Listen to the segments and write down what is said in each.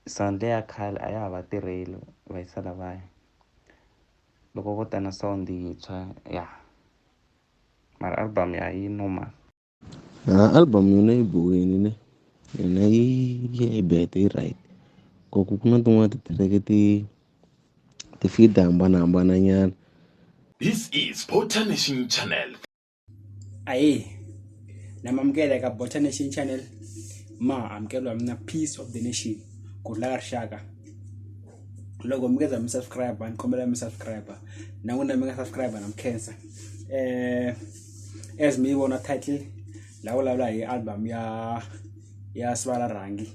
Sonto ya khale a ya ha va tirheli va yisa lavaya loko vo ta na sound yintshwa ya mara album ya yi normal na album yona yi bohini ne yona yi ya yi bete yi right ku ku na tin'wana titireke ti ti fida hambanahambana nyana This is Potanition Channel. aye namamukela eka bota nation channel ma amukelwa mina peace of the nation kudla ka rixaka loko mi keza mi subscribe ni kombela mi subscribe na n'wina mi nga subscribe na mi khensa eh as mi vona title la vulavula hi album ya ya sivala rhangi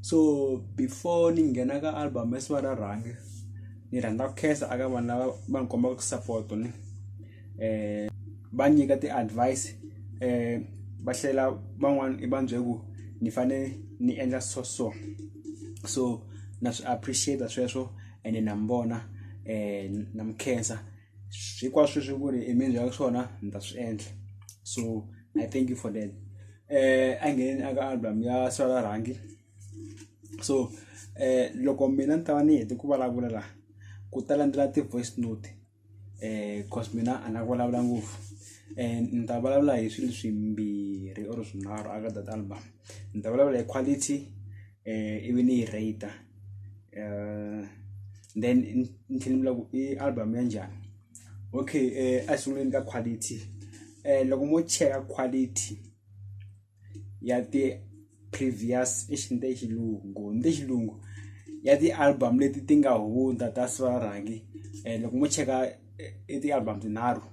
so before ni nghena ka album ya sivala rhangi ni rhandza ku khensa aka vanhu lava va ni kombaka support ni eh va nyika ti advice eh va hlela van'wana i va byela ku ni fane ni endla so so so na swi appreciate sweswo ene na mi vona eh na mi khensa hinkwaswo swi ku ri i mi byela swona ni ta swi endla so i thank you for that eh a ngheneni aka album ya swala rhangi so eh loko mina ni ta va ni hete ku vulavula laha ku ta landzela ti-voice note. cause mina a nga vulavula ngopfu ni ta vulavula hi swilo swimbirhi or swinharhu aka data album ni ta vulavula hi quality ivi ni yi rate then ni tlhela ni vula ku i album ya njhani okay a sunguleni ka quality loko mo cheka quality. ya ti-previous exi ni te xilungu ni te xilungu ya ti-album leti ti nga hundza ta swa rhangi um loko mo cheka i ti-album tinharhu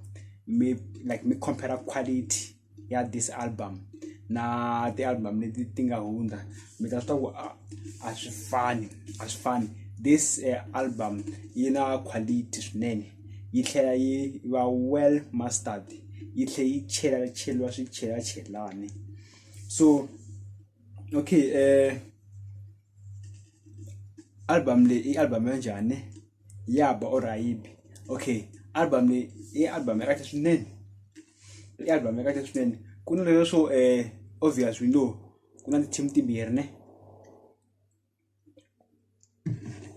mi like mi compare quality ya this album na ti-album leti ti nga hundza mi ta swi tiva ku a- a swi fani a swi fani this uh, album yi na quality swinene yi tlhela yi va well mustard yi tlhela yi chela cheriwa swi chela chelani so okay eh album leyi i album ya njhani ya ba or ayibi okay album leyi i album ya kahle swinene i album ya kahle swinene ku na leswo eh obvious we know ku na ti-team timbirhi ne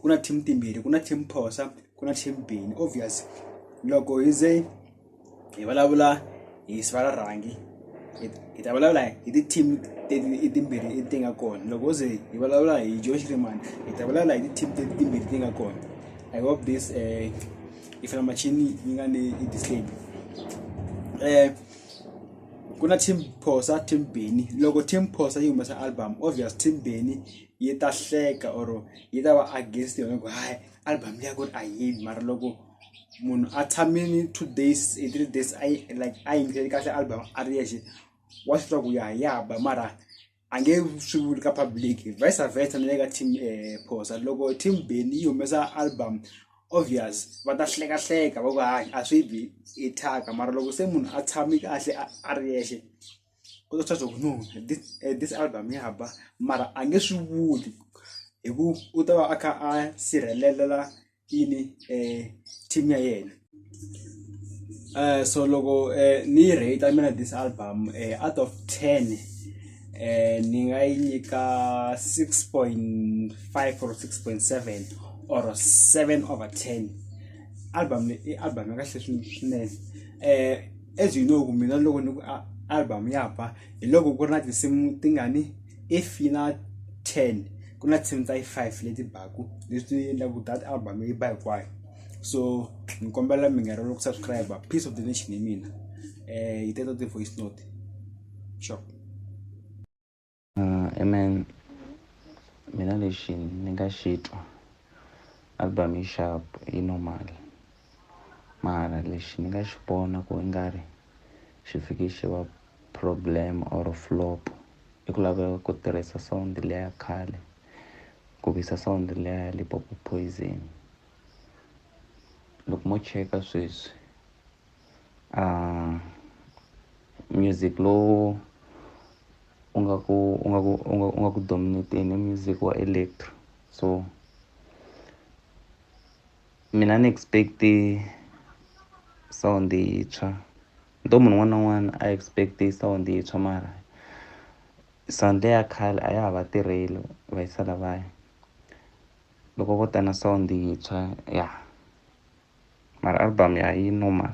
ku na team timbirhi ku na team phosa ku na team bini obvious loko hi ze hi vulavula hi siva ra rhangi hi ta vulavula hi ti-team teti timbirhi ti nga kona loko ze hi vulavula hi josh reman hi ta vulavula hi ti-team teti timbirhi ti nga kona i hope this um eh, ifela machine yi nga ni i disable um eh, ku na team phosa team beni loko team phosa yi humesa album obvious team beni yi ta hleka or yi ta va against yona ku hayi album leyi ya ku ri a yini mara loko munhu a tshamini two days e three days a yi like a yingiseli kahle album a ri yexe wa swi tiva ku ya ya ba mara angeke swi vuli ka public vice versa na le ka team eh, phosa loko team beni yi humesa album obvious va ta hlekahleka va ku hayi a swi bi i thyaka mara loko se munhu a tshami kahle a- a ri yexe ku ta swa ku no this, eh, this album ya ba mara a nge swi vuli hi ku u ta va a kha a sirhelela yini team ya yena so loko ni yi rate mina this album out of ten ni nga yi nyika six point five or six point seven or seven over ten album le i album ya kahle swinene as you know ku mina loko ni ku album ya ba hi loko ku ri na tinsimu tingani. if yi na ten ku na ten ta yi five leti baku leswi endlaku that album yi ba hinkwayo so ni kombela mi nga rivali ku subscribe peace of the nation hi mina um yi teta ti-voice note sure uh, amen mina lexi ni nga xi twa album yi sharp yi normal mara lexi ni nga xi vona ku i nga ri xi fike xi va problem or flop i ku laveka ku tirhisa sound leya khale ku visa sound leya Limpopo Poison loko mo cheka sweswi a music lowu u nga ku u nga ku u nga u nga ku dominate-ni music wa electro so mina ni expect sound yintshwa ni to munhu un'wana na un'wana a expect sound yintshwa mara sound leyi ya khale a ya ha va tirheli va yisa lavaya loko vo ta na sound yintshwa ya mara album ya yi normal.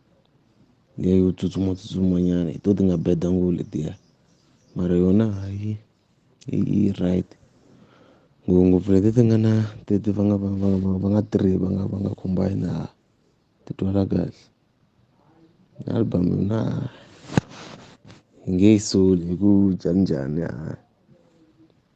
leyi yo tsutsuma tsutsuma nyana hi to ti nga bad ngopfu letiya mara yona hayi i i right ngopfungopfu leti ti nga na tete va nga va nga va nga va nga three va nga va nga combine a ti twala kahle album yona nge yi soli hi ku njhaninjhani a.